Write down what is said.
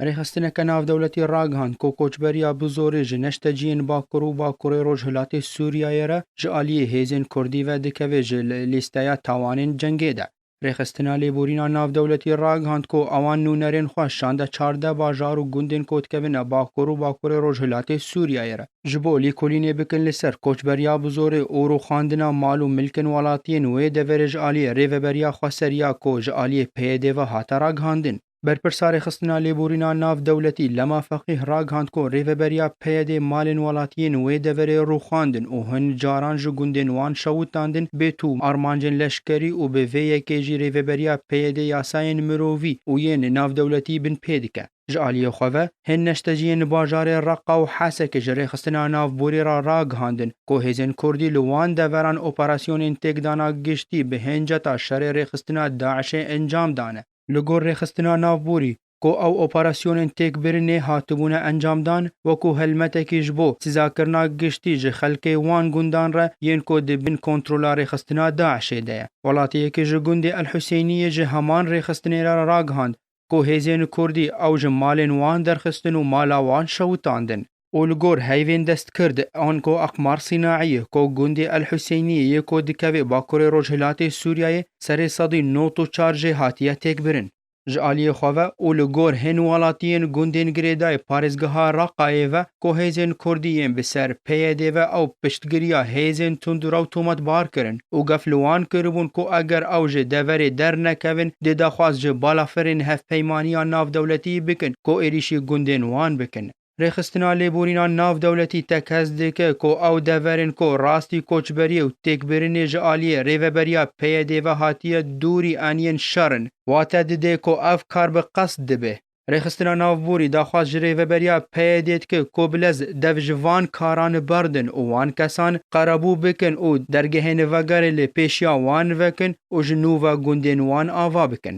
Rêxistineke navdewletî ragihand ku koçberiya bi zorê ji neşteciyên Bakur û Bakurê Rojhilatê Sûriyeyê re ji aliyê hêzên Kurdî ve dikeve ji lîsteya tawanên cengê de. Rêxistina Lêborîna Navdewletî ragihand ku ewan nûnerên xwe şande çardeh bajar û gundên ku dikevine Bakur û Bakurê Rojhilatê Sûriyeyê re, ji bo lêkolînê bikin li ser koçberiya bi zorê û rûxandina mal û milkên welatiyên wê deverê ji aliyê Rêveberiya Xweser ya ku ji aliyê PYD ve hate ragihandin. Berpirsa Rêxistina Lêborîna Navdewletî Lema Feqîh ragihand ku rêveberiya PYDê malên welatiyên wê deverê rûxandin û hin caran ji gundên wan şewit dandin bê tûm armancên leşkerî û bi vê yekê jî rêveberiya PYDê yasayên mirovî û yên navdewletî bin pê dike. Ji aliyê xwe ve, hin neşteciyên li bajarê Reqa û Hesekê ji Rêxistina Navborî re ragihandin ku hêzên kurdî li wan deveran operasyonên têkdana giştî bi hin ceta şerê rêxistina DAIŞê encam dane. Li gor rêxistina navborî ku ew operasyonên têkbirinê hatibûne encamdan, wekû helmetekî ji bo sîzakirina giştî ji xelkê wan gundan re yên ku di bin kontrola rêxistina DAIŞ'ê de ye. Welatiyekî ji gundê El Husêniyê ji heman rêxistinê re ragihand ku hêzên kurdî ew ji malên wan derxistin û mala wan şewitandin. û li gor heyvên destgird an ku Aqmar Sînaiyê ku gundê El Huseyniye ye ku dikeve bakurê rojhilatê Sûriyeyê serê sedî not û çar jê hatiye têkbirin. Ji aliyê xwe ve û li gor hên welatiyên gundên girêdayî parêzgeha Raqayê ve ku hêzên kurdî yên bi ser PYDê ve ew piştgiriya hêzên tundûrew tometbar kirin û gef li wan kiribûn ku eger ew ji deverê dernekevin dê daxwaz ji balafirên hevpeymaniya navdewletiyî bikin ku êrîşî gundên wan bikin. Rêxistina lêborîna navdewletî te kes dike ku ew deverên ku rastî koçberiyê û têkbirinê ji aliyê rêveberiya PYDê ve hatiye dûrî eniyên şer in, wate dide ku ev kar bi qesd dibe. Rêxistina Navborî daxwaz ji rêveberiya PYDê dike ku bi lez dev ji van karan berdin û wan kesan qerebû bikin û dergehên vegerê li pêşiya wan vekin û ji nû ve gundên wan ava bikin.